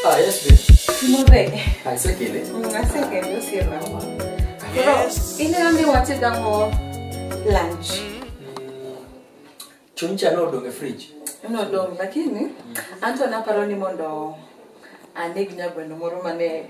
Ah, yes, babe. Move. Ah, it's okay, ne? Mm, I think I do see that one. Bro, you know me what you done for lunch. Chuncha no odong e fridge. No dong, lakini Anto naparo ni mondo aneg nyagweno moro mane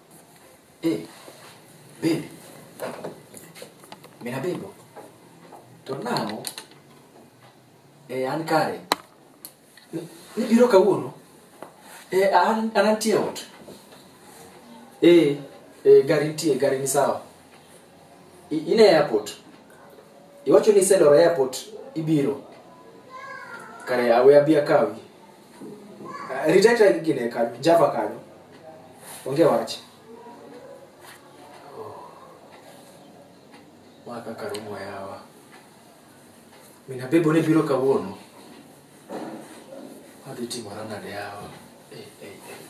Eh, babe. Mina bebo. To nang'o? Eh, an kare. Ni- Nibiro kawuono? Eh, an an antie ot. Eh, eh, gari nitie, gari ni sawa. I- In e airport. Iwacho ni iseloro airport, ibiro. Kare awe abia kawi. Ah, Ritaita gine kanyo, Java kanyo. Onge wach. Ma kaka rumo yawa. Mina bebo ne biro kawuono. Adhi timora nade yawa. Eh, eh, eh.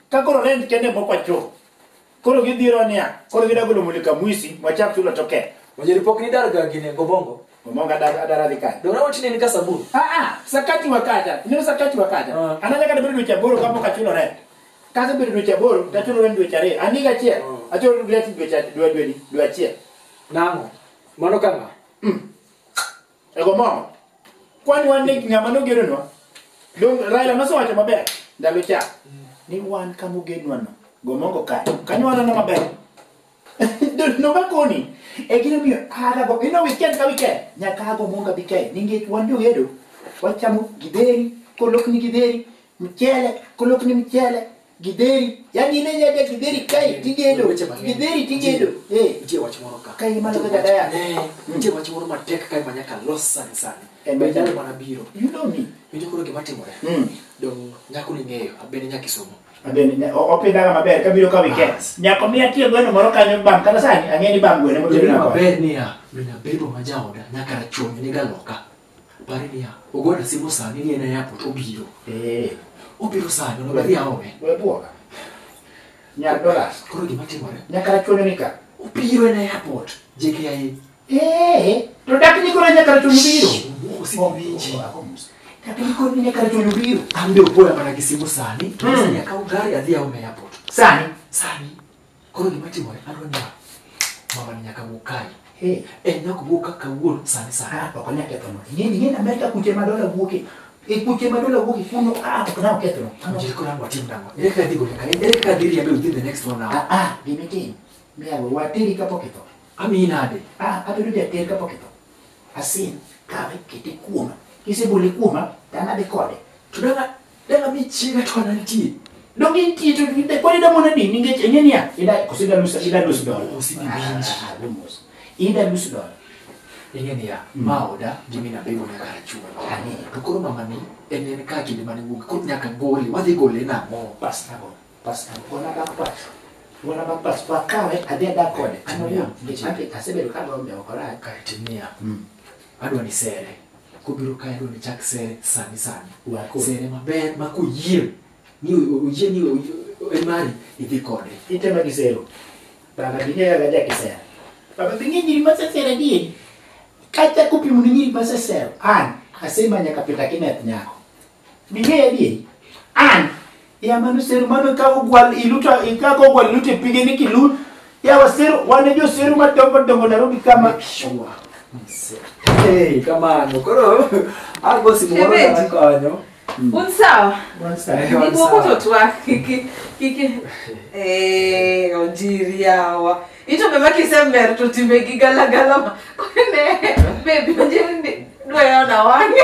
Ka koro rent kende moko acho. Koro gidhiro niya, koro gida golo mulika mwisi, wachak chulo to ke. Wajeripok ni dar ga gine gobongo. Omonga adara adara dhi kanye. Dora watine ni kasabuni. Ah ah, sakati wakaja. Ndio sakati wakaja. Ah. Anaja kada bado dweche aboro kama kachulo rent. Kaza bado dweche aboro, tachulo rent dweche ariyo. Aniga achiel. Ah. Achulo rent dweche dwe dwe dwe achiel. Nango. Mano kama. Ego mom. Kwani wan ni ng'ama nogeronwa. Dong Raila nosewacho maber ndalo cha. Ni wan kama ogenwa no. Gomongo kae. Kanyo waneno maber. no makoni. E gino miyo aga go. Ino weekend ka weekend. Nyaka ago monga bi kae. Ninge wan jogedo. Wachamo gideri. Kolokni gideri. mchele kulok ni mchele gidheri yani ine nyaka gidheri kae tigedo Weche mang'eny. gidheri tigedo Nitie- eh nitie wach moro ka Ka imalo Nitie kaka wach- daya. Eh, nitie wach moro matek kae ma nyaka los sani sani En Be majan. nyalo mana biro you know me winjo koro gima timore Mm. dong nyako ning'eyo abende nyaka isomo Abende, nya- o- opidhaga maber kabiro ka weekend Bas. nyako mi atie gweno moro kanyo bam kata sani ang'e ni bam gweno Bedo motedona kode maber niya min abebo ma jaoda nyaka rachungi ni galoka Pare niya, ogona simu sani ni en e airport obiro. Eh. Obiro sani, onego adhi aome. We bwoga. Nyar dollars. Koro gima timore. Nyaka rachwonyo ni ka. Obiro en e airport. JKIA. Eh. To dak ni koro nyaka rachwonyo biro. Wuo simu winji. Dak ni koro nyaka rachwonyo biro. An be opoya mana gi simu sani. To sani akawo gari adhi aome e airport. Sani. Sani. Koro gima timore adwa ni mama ni nyaka wuog kae. Hey. En nyaka wuog ka kawuono sani sani. Ah, ok onyal kethono. Ing'eni ing'eni Amerka kuche ma dola wuoke. E kuche ma dola wuoke kuno ah ok nyal kethono. Ano. Njiri koro anwa tim nang'o? Ere kaka dhi gole kae? Ere kaka dhi riembe within the next one hour? Ah ah gima itim. Miya we wateri kapok itho. Amiyi nade? Ah abedo jater kapok itho. Asin kawe kete kuoma. Kisebole kuoma to an adhi kode. To dala Dala mi chiega to kana nitie. Dong intie to ginde kwani da mona dini ngeche enye niya. Ida kusida lusa ida lusa dola. Kusida binji. Lumos. Ida lusa dola. Enye niya. Maoda jimi na bego nyaka achuma. Ani. To koro mama ni enye ni kaki ni mani wuki. Kut nyaka goli. Wadhi goli na mo. Pas na mo. Pas na mo. Kona da pas. Kona da pas. Kwa kawe adhe da kode. Ano ya. Ngeche ake asebedo kama umeokora. Kaitiniya. Adwa ni sere. kobiro kae dwani chak sere sani sani Wako. sere maber ma koyiem ni o- oyie ni o- o- en mari idhi kode itema gisero baba bing'eyo ga jakisero baba bing'eyo nyiri masesero adieri kata kopimo ni nyiri masesero an asemanyo kapita kineth nyako Ming'eyo adier? An, ya mano seru mano ka ogwal iluto ikako ogwal iluto e pige ni kilut. Ya waseru wane jo seru madongo dongo Nairobi kama. Sure. Hey, kamano. Koro ago simu moro Shemeji. na konyo. Un sawa? Once Eh, Ni once moko to sawa. twak kiki kiki eh ojiri yawa. Ito beba kisember to timbe gi galagala ma. Kone baby ojiri ni dwa yona wange.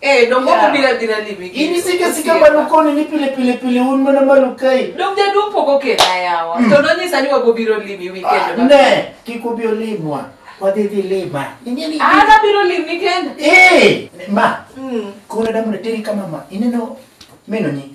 Eh, dongo Yeah. yeah. bila bila limi. In isike sike malo koni ni pile pile pile un mana malo kai. Dong jaduong poko kena yawa. To nonyisa ni wago biro limi weekend. ma- Ne, kik ubi olimwa. Wadhi dhi lima. Inye ni. Ah, na biro limi kenda. Eh, ma, Mm. kuna damu na teri kama ma. Ineno meno ni.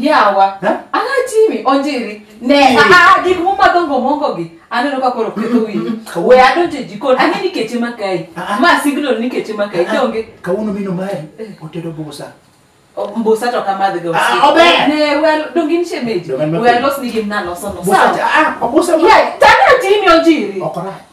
yawa Eh? anatimi onjiri ne Eh. ah, ah, gik mumadho ngomongogi aneno ka koro ketho wiyi Kawuono. we adonje jikon ang'e ni keche makayi Ah, ah. ma signal ni keche makayi donge kawuono mino mae otedo busa mbusa to kamadhiga Ah, ober. ne we donge ni shemeji Donge ni we mapiyo. alos ni gimnalosono Busa cha- ah, obusa ma- tanatimi onjiri okorach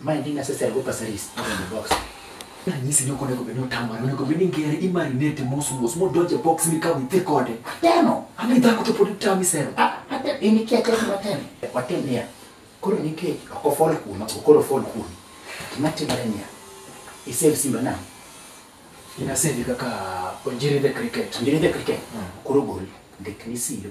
Ma en gima sesel go pasaris out of the box. Ranyisi ni ok onego bed ni otamore, onego bed ni ngere imarinate mos mos modonj e box mikaw idhi kode. Atemo. Ami dhako to pod itami sero. Ah, atemo. In ikia akia gima atemo. Watim niya. Koro nikech ok ofol kuoma, ok koro ofol kuomi. Gima timore niya. Isave simba nang'o? Ina save kaka Onjiri the cricket. Onjiri the cricket. Koro gol ndik ni siro.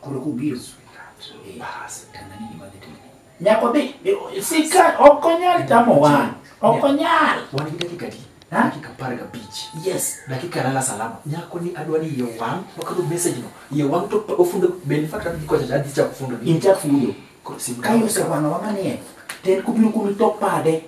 Koro kobiro sweetheart. Bas, tena nini madhi timo? Nyako bi, sika ok onyal tamo wan. Ok onyal. Wan gi dakika adi? Ha? Dakika apar gabich. Yes. Dakika lala salama. Nyako ni adwa ni iye wang', wakadho message no. Iye wang' to pa- ofundo be in fact adhi kocha cha adhi chako fundo ni. In chak fundo. Koro sim Ka yose wang'awa manie, to en kobiro kuno to pade.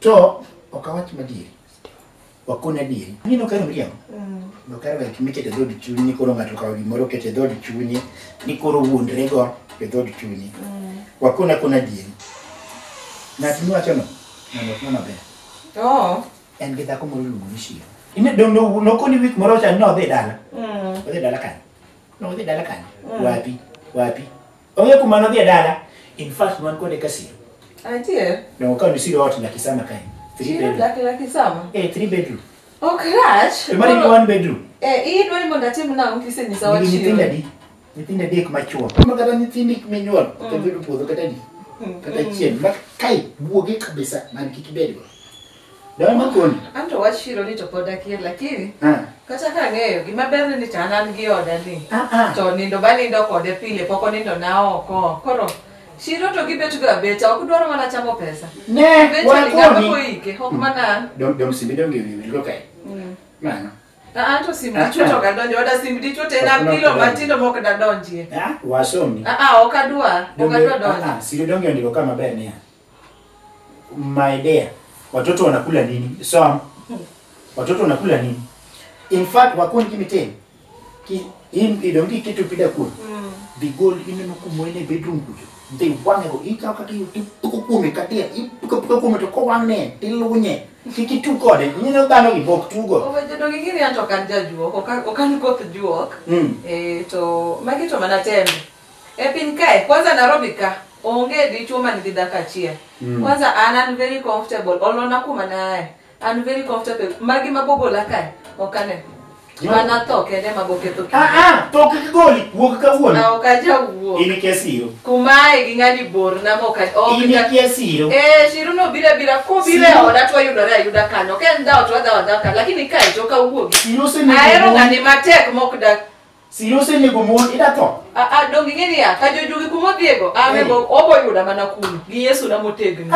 To ok awach madieri. Wakone adieri. Aneno ka miriambo. No kar wek mikete dhod chunyi ni koro ng'ato kawo gimoro kete dhod chunyi ni koro wuondre go e dhod chunyi. Wakona kona adieri. Ng'at miwacho no ng'ano ok maber. Oh. En gi dhako moro luongo ni Shiro. Ine do no no koni wik moro cha no dhi dala. Mm. Odhi dala kanye? No odhi dala kanye? Wapi? Wapi? Onge kuma nodhi e dala. In fact, wan kode ka siro. Adier. Ne wakawo ni siro ot laki sama kae. Three Chiro bedroom. laki laki sama. Eh, three bedroom. Ok rach. To mari ni one bedroom. Eh, iyi dwa ni mondo atim nang'o kisenyisa Nigi nyithindo wachiro. adi? Nyithindo adek machuo. Kuma kata nyithindi minyuol, kata bedo puodho kata di. Kata chien. Ma kai, buoge kabisa, man kik ibedgo. Dawa makoni. An to wach chiro ni to pod akia lakini Ah. kata ka ang'eyo gima berne ni to an an gi oda ni Ah, ah. to nindo banindo kode pile pok onindo na oko koro chiro to gibetgo abeta ok dwaro mana chamo pesa Ne, Eventually, ng'ama wakoni. koike ok mana an Dom dom simbi dom gini gini go kai. Mano. Ah, ah, to sim Ah, dichuo ah. to ok adonjo oda sim dichuo to en Ok, ok, apilo ok. matindo mok dadonjie Ah, wasomni. Ah, ah, ok adwa ok Donge- adwa ah, donjo ah, Siri donge ndiko kama ber niya. my dear watoto wanakula nini so watoto wanakula nini in fact wakon kimiten ki in idongi kitu pida kun bigol ineno kumwene bedroom kucho they wange go ika kati tuko kume katia ipika pika kume to ko wangne tilunye kiki tu kode nyino dano gi bok tu go Owejedo gi gini anto kan jajuok, okan okan koth juok. Mm. Eh to magi to mana tembe. E piny kae, kwanza Nairobi ka, onge dichuo man gi dhako achiel. Mm. Kwanza an an very comfortable, olona kuma naaye. An very comfortable. Magi mabogola kae, ok ane. No. Mana tho kende ema boketho kinde. Ah, ah, to ok igoli, wuog Na kawuono. ok ajawuok. In ikia siro. Kumae gi ng'ani bor na ma ok aj- ok In ja- ikia siro. Eh, Shiru no bira bira ko bira Siro. oda to yudore ayuda kanyo. Ken dawo to adawo adawo kanyo. Lakini kae to kawuogi. Siro osenego Ahero wuowi. ng'ani matek mok dak Siro osenego mon ida tho. Ah, ah, donge ing'e niya ka jojugi kuma odhiego amego obo yuda mana kuno gi yesu na motegno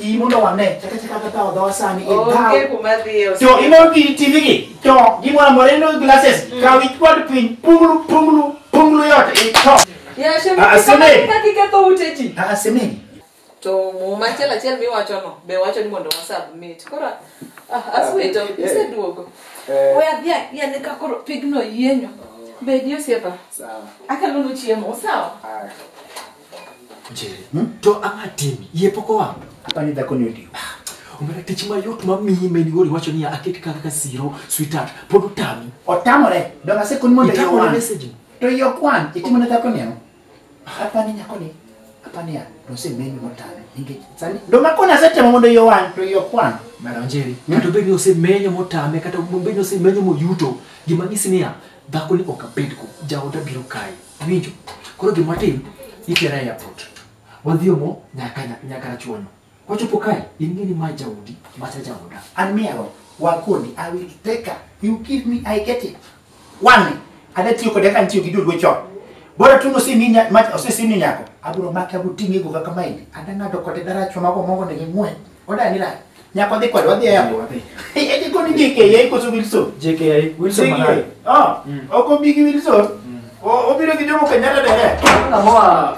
Iyi mondo wane chaka chaka kata odhowa sani e onge dhaw. kuma dhiye ose- To imo gi TV gi to gimoro amora ino glasses kaw ikwad piny punglu punglu punglu yot e to. Yashe, Ah, ah, Sene. kaka iketho ute ji Ah, semeni. to muma achiel achiel miwachono be wacho ni mondo wasubmit koro ah, aswito Yeah. iseduogo Eh. we adhi ayiane ka koro pigno yienyo bedi osiepa Sawa. akelonu chiemo sawa Haya. Njeri, to ang'a timi yie pok owang' Hapa ni dhako ni odiwo. omera tich mayot mamiyi ma in iwuon iwacho niya aket kaka ka siro sweetheart pod otami Otamore. Donga sekoni mondo Itamore iwan. message. To yok wan. Itimo ne dhako ni ang'o? Apani nyakoni, apani ya, nosemeni motame. Nikech sani, ndo makoni asetemo mondo iyo wang', to iyo kwano. Maranjeri, kata obed ni osemenyo motame, kata obed ni osemenyo moyuto, gima nyisi niya, dhako ni ok abedgo, jaoda biro kae. Iwinjo? Koro gima watim, itera e airport. Wadhi omo nyaka nyaka rachuonyo. Kochopo kae, ing'e ni ma jaodi, macha jaoda. An miero, wakoni, I will take her. You give me, I get it. Wang'e, ada tiyo kode ka ntiyo gi dulwe chon. Bora tu nosimi nya- ma- osesimi nyako, abiro make abiro ting'e go kaka maini. Ada ng'ado kode daracho mago mongo ne ging'we. Oda ni lai. Nyako dhi kode, wadhi e airport. Wadhi. Eh, eh, dikoni JKA koso Wilson. JKI, Wilson JKA. Malaya. Ah, Mm. ok obi gi Wilson. O- Obiro gi Jomo Kenyatta direct. Namoa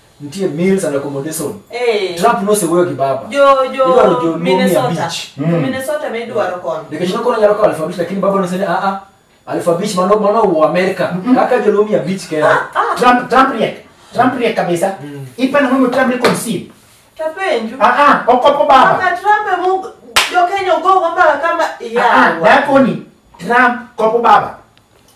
nitie meals and accommodation Eh. trump nosewuoyo gi baba jo Idwaro jo jo Mumia Minnesota Beach. jo Mm. Minnesota be idwaro kono nikech nokona nyalo kawo alpha beach lakini baba nosene a a alpha beach mano mano uo america kaka jolumia beach kera Trump Trump riek. Trump riek kabisa. Mm. Ipana mimi Trump ni conceive. tapenju Ah ah, okopo baba. kaka Trump e mu jo Kenya ugo kama kama Ah ah, yawa dakoni. Trump kopo baba.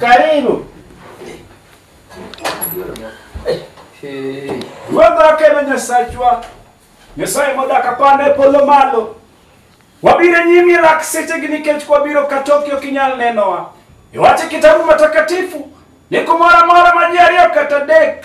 Karibu. Ruodh akelo Nyasachwa. Nyasaye modak apanda e polo malo. Wabiro nyimi e lak sechegi nikech kwabiro ka toki ok inyal nenowa. Iwache kitabu matakatifu ni kumoro amora ma ji ariyo kata adek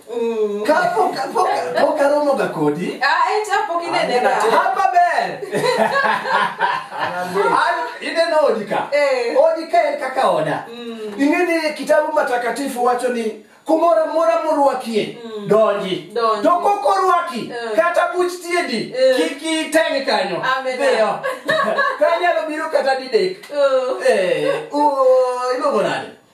Mm. Ka pok pok pok aromo ga kodi. Ah, eh, cha pok inenega. Hapa ber. An ineno odi ka. Eh. Odi ka en kaka oda. Mm. Ingeni kitabu matakatifu wacho ni kumora mora murwakie mm. donji Donji. to kok orwaki Eh. kata buch tiedi Eh. kik iteng kanyo Amen. Dhiyo. kanyalo biro kata didek Oh. Eh, uh, iluongo nade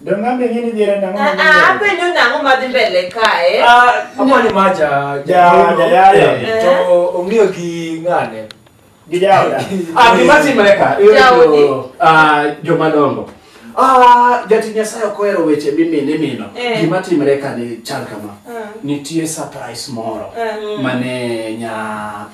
Dongambe ing'e ni dhier en ang'o ma Ah, ah, dhier? apenjo nang'o madhi mbele kae Ama ni maja Ja- jayayo. Eh, to ong'iyo gi ng'ane. Gi jaoda. Ah, gima timore ka, iyudo Jaodi. jo- ah, joma dongo. Ah, jatich Nyasaye ok ohero weche mimino imino. Eh. Gima timore ka ni chal kama. Eh. Nitie surprise moro Eh. mane nya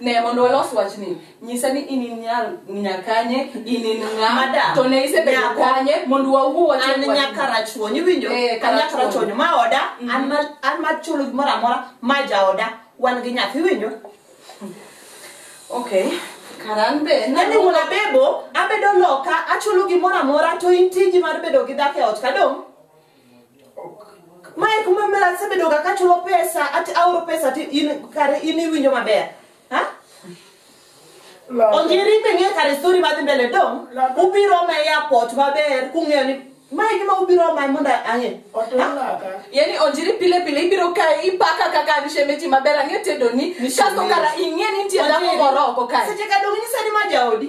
Ne mondo walos wachni, nyisa ni in in nyar nyakanye, in in ng'a, Madam, to ne isebedo nyaka- kanye mondo wawuo an wachni. nyaka rachuony iwinjo Eh, an nyaka Karachuonyo. rachuonyo ma oda an ma- an ma chulo gimoro amora ma jaoda wan gi nyathi iwinjo Okay. Karan be yani wuon abebo abedo loka achulo gimoro amora to in tiji mar bedo gi dhako e ot kadong mae kuma mara asebedoga kachulo pesa ati aoro pesa ti in kare in iwinjo maber ha onjiri be ng'e kare stori madhi mbele dong ubiro ma e airport maber kung'eyo ni mae gima ubiro ma mondo ang'e yani onjiri pile pile ibiro kae ipaka kaka an shemeji maber ang'e tedoni kasto kara ing'e ni nitie dhako moro oko kae seche ka dong inyisa ni ma jaodi